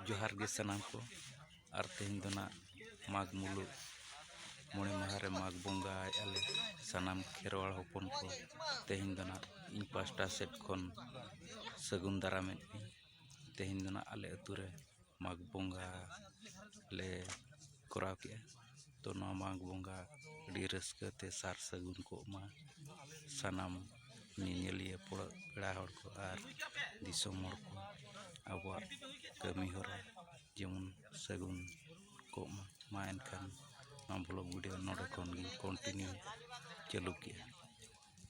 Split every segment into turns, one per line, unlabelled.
ᱡᱚᱦᱟᱨ ᱜᱮ ᱥᱟᱱᱟᱢ ᱠᱚ ᱟᱨ ᱛᱮᱦᱮᱧ ᱫᱚ ᱱᱟᱜ ᱢᱟᱜᱽ ᱢᱩᱞᱩᱜ ᱢᱚᱬᱮ ᱢᱟᱦᱟ ᱨᱮ ᱢᱟᱜᱽ ᱵᱚᱸᱜᱟᱭᱮᱜᱼᱟ ᱞᱮ ᱥᱟᱱᱟᱢ ᱠᱷᱮᱨᱣᱟᱲ ᱦᱚᱯᱚᱱ ᱠᱚ ᱛᱮᱦᱮᱧ ᱫᱚ ᱱᱟᱜ ᱤᱧ ᱯᱟᱥᱴᱟ ᱥᱮᱫ ᱠᱷᱚᱱ ᱥᱟᱹᱜᱩᱱ ᱫᱟᱨᱟᱢᱮᱫ ᱯᱮᱭᱟᱹᱧ ᱛᱮᱦᱮᱧ ᱫᱚ ᱱᱟᱜ ᱟᱞᱮ ᱟᱹᱛᱩ ᱨᱮ ᱢᱟᱜᱽ ᱵᱚᱸᱜᱟ ᱞᱮ ᱠᱚᱨᱟᱣ ᱠᱮᱜᱼᱟ ᱛᱚ ᱱᱚᱣᱟ ᱢᱟᱜᱽ ᱵᱚᱸᱜᱟ ᱟᱹᱰᱤ ᱨᱟᱹᱥᱠᱟᱹ ᱛᱮ ᱥᱟᱨ ᱥᱟᱹᱜᱩᱱ ᱠᱚᱜ ᱢᱟ ᱥᱟᱱᱟᱢ ᱧᱮᱧᱮᱞᱤᱭᱟᱹ ᱯᱮᱲᱟ ᱦᱚᱲ ᱠᱚ ᱟᱨ ᱫᱤᱥᱚᱢ ᱦᱚᱲ ᱠᱚ ᱟᱵᱚᱣᱟᱜ ᱠᱟᱹᱢᱤ ᱦᱚᱨᱟ ᱡᱮᱢᱚᱱ ᱥᱟᱹᱜᱩᱱ ᱠᱚᱜ ᱢᱟ ᱢᱟ ᱮᱱᱠᱷᱟᱱ ᱱᱚᱣᱟ ᱵᱞᱚᱜᱽ ᱵᱷᱤᱰᱭᱳ ᱱᱚᱰᱮ ᱠᱷᱚᱱ ᱜᱮᱧ ᱠᱚᱱᱴᱤᱱᱤᱭᱩ ᱪᱟᱹᱞᱩ ᱠᱮᱜᱼᱟ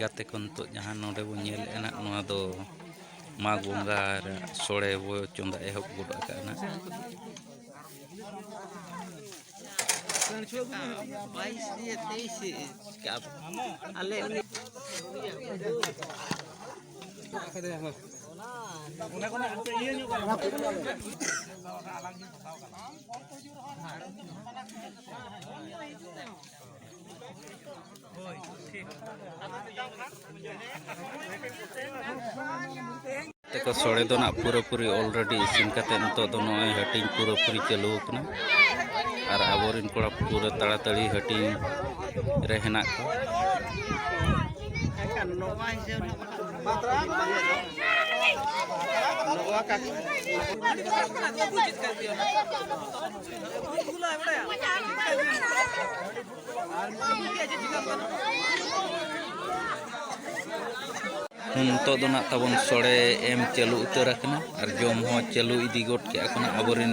ᱜᱟᱛᱮ ᱠᱚ ᱱᱤᱛᱚᱜ ᱡᱟᱦᱟᱸ ᱱᱚᱰᱮ ᱵᱚᱱ ᱧᱮᱞᱮᱫᱼᱟ ᱱᱟᱜ ᱱᱚᱣᱟ ᱫᱚ ᱢᱟᱜᱽ ᱵᱚᱸᱜᱟ ᱨᱮ ᱥᱚᱲᱮ ᱵᱚ ᱪᱚᱸᱫᱟ ᱮᱦᱚᱵ ᱜᱚᱫ ᱟᱠᱟᱫᱼᱟ ᱱᱟᱜ
ᱵᱟᱭᱤᱥ ᱫᱤᱭᱮ ᱛᱮᱭᱤᱥ ᱟᱞᱮ ᱩᱱᱤ ᱚᱱᱟ
ᱛᱮᱠᱚ ᱥᱚᱲᱮ ᱫᱚ ᱱᱟᱜ ᱯᱩᱨᱟᱹᱯᱩᱨᱤ ᱚᱞᱨᱮᱰᱤ ᱤᱥᱤᱱ ᱠᱟᱛᱮ ᱱᱤᱛᱚᱜ ᱫᱚ ᱱᱚᱜᱼᱚᱭ ᱦᱟᱹᱴᱤᱧ ᱯᱩᱨᱟᱹᱯᱩᱨᱤ ᱪᱟᱹᱞᱩ ᱟᱠᱟᱱᱟ ᱟᱨ ᱟᱵᱚᱨᱮᱱ ᱠᱚᱲᱟ ᱯᱩᱨᱟᱹ ᱛᱟᱲᱟᱛᱟᱲᱤ ᱦᱟᱹᱴᱤᱧ ᱨᱮ ᱦᱮᱱᱟᱜ ᱠᱚᱣᱟ ᱱᱤᱛᱚᱜ ᱫᱚ ᱱᱟᱜ ᱛᱟᱵᱚᱱ ᱥᱚᱲᱮ ᱮᱢ ᱪᱟᱹᱞᱩ ᱩᱛᱟᱹᱨ ᱟᱠᱟᱱᱟ ᱟᱨ ᱡᱚᱢ ᱦᱚᱸ ᱪᱟᱹᱞᱩ ᱤᱫᱤ ᱜᱚᱫ ᱠᱮᱜᱼᱟ ᱠᱚ ᱟᱵᱚᱨᱮᱱ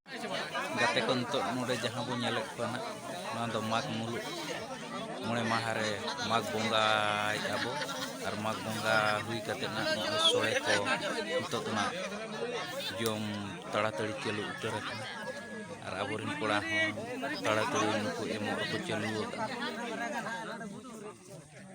ᱜᱟᱛᱮ ᱠᱚ ᱱᱤᱛᱚᱜ ᱱᱚᱰᱮ ᱡᱟᱦᱟᱸ ᱵᱚᱱ ᱧᱮᱞᱮᱫ ᱠᱚᱣᱟ ᱱᱟᱜ ᱱᱚᱣᱟ ᱫᱚ ᱢᱟᱜᱽ ᱢᱩᱞᱩᱜ ᱢᱚᱬᱮ ᱢᱟᱦᱟ ᱨᱮ ᱢᱟᱜᱽ ᱵᱚᱸᱜᱟᱭᱮᱫᱼᱟ ᱵᱚ ᱟᱨ ᱢᱟᱜᱽ ᱵᱚᱸᱜᱟ ᱦᱩᱭ ᱠᱟᱛᱮ ᱱᱟᱜ ᱱᱚᱜᱼᱚᱭ ᱥᱚᱲᱮ ᱠᱚ ᱱᱤᱛᱚᱜ ᱫᱚ ᱱᱟᱜ ᱡᱚᱢ ᱛᱟᱲᱟᱛᱟᱹᱲᱤ ᱪᱟᱹᱞᱩ ᱩᱛᱟᱹᱨ ᱟᱠᱟᱱᱟ ᱟᱨ ᱟᱵᱚᱨᱮᱱ ᱠᱚᱲᱟ ᱦᱚᱸ ᱛᱟᱲᱟᱛᱟᱹᱲᱤ ᱱᱩᱠᱩ ᱮᱢᱚᱜ ᱨᱮᱠᱚ ᱪᱟᱹᱞᱩ ᱟᱠᱟᱫᱼᱟ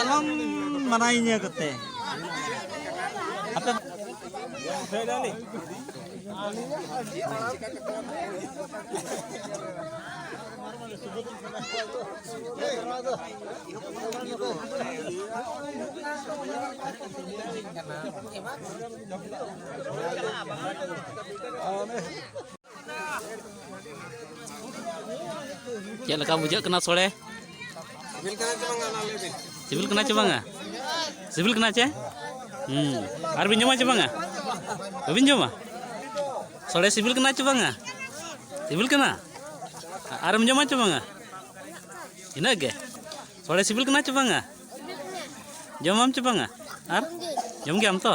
ᱟᱞᱚᱢ ᱢᱟᱱᱟᱭᱤᱧᱟᱹ ᱠᱟᱛᱮ ᱟᱯᱮ ᱠᱟᱱᱟ
ᱪᱮᱫ ᱞᱮᱠᱟ ᱵᱩᱡᱷᱟᱹᱜ ᱠᱟᱱᱟ ᱥᱚᱲᱮ ᱥᱤᱵᱤᱞ ᱠᱟᱱᱟ ᱪᱮ ᱵᱟᱝᱟ ᱥᱤᱵᱤᱞ ᱠᱟᱱᱟ ᱪᱮ ᱦᱩᱸ ᱟᱨ ᱵᱤᱱ ᱡᱚᱢᱟ ᱪᱮ ᱵᱟᱝᱟ ᱵᱟᱹᱵᱤᱱ ᱡᱚᱢᱟ ᱥᱚᱲᱮ ᱥᱤᱵᱤᱞ ᱠᱟᱱᱟ ᱪᱮ ᱵᱟᱝᱟ ᱥᱤᱵᱤᱞ
ᱠᱟᱱᱟ ᱟᱨᱮᱢ ᱡᱚᱢᱟ ᱪᱮ ᱵᱟᱝᱟ ᱤᱱᱟᱹᱜ ᱜᱮ ᱥᱚᱲᱮ ᱥᱤᱵᱤᱞ ᱠᱟᱱᱟ ᱪᱮ ᱵᱟᱝᱟ ᱡᱚᱢᱟᱢ ᱪᱮ ᱵᱟᱝᱟ ᱟᱨ ᱡᱚᱢ ᱜᱮᱭᱟᱢ ᱛᱚ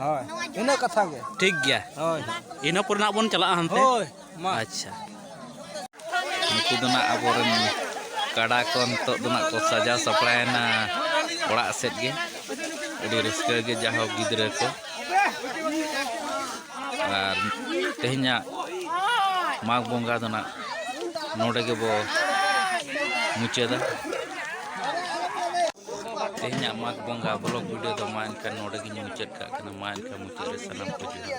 ᱦᱳᱭ ᱤᱱᱟᱹ
ᱠᱟᱛᱷᱟ ᱜᱮ ᱴᱷᱤᱠ ᱜᱮᱭᱟ ᱦᱳᱭ
ᱤᱱᱟᱹ
ᱯᱚᱨᱮ ᱱᱟᱜ ᱵᱚᱱ
ᱪᱟᱞᱟᱜᱼᱟ ᱦᱟᱱᱛᱮ ᱦᱳᱭ ᱢᱟ ᱟᱪᱪᱷᱟ
ᱱᱩᱠᱩ ᱫᱚ ᱱᱟᱜ ᱟᱵᱚᱨᱮᱱ ᱠᱟᱰᱟ ᱠᱚ ᱱᱤᱛᱚᱜ ᱫᱚ ᱱᱟᱜ ᱠᱚ ᱥᱟᱡᱟᱣ ᱥᱟᱯᱲᱟᱣᱮᱱᱟ ᱚᱲᱟᱜ ᱥᱮᱫ ᱜᱮ ᱟᱹᱰᱤ ᱨᱟᱹᱥᱠᱟᱹ ᱜᱮ ᱡᱟᱦᱳ ᱜᱤᱫᱽᱨᱟᱹ ᱠᱚ ᱟᱨ ᱛᱮᱦᱮᱧᱟᱜ ᱢᱟᱜᱽ ᱵᱚᱸᱜᱟ ᱫᱚ ᱱᱟᱜ ᱱᱚᱰᱮ ᱜᱮᱵᱚ ᱢᱩᱪᱟᱹᱫᱟ ᱛᱮᱦᱮᱧᱟᱜ ᱢᱟᱜᱽ ᱵᱚᱸᱜᱟ ᱵᱞᱚᱜᱽ ᱵᱷᱤᱰᱤᱭᱳ ᱫᱚ ᱢᱟ ᱮᱱᱠᱷᱟᱱ ᱱᱚᱰᱮ ᱜᱮᱧ ᱢᱩᱪᱟᱹᱫ ᱠᱟᱜ ᱠᱟᱱᱟ ᱢᱟ ᱮᱱᱠᱷᱟᱱ ᱢᱩᱪᱟᱹᱫ ᱨᱮ ᱥᱟᱱᱟᱢ ᱠᱚ ᱡᱚᱦᱟᱨ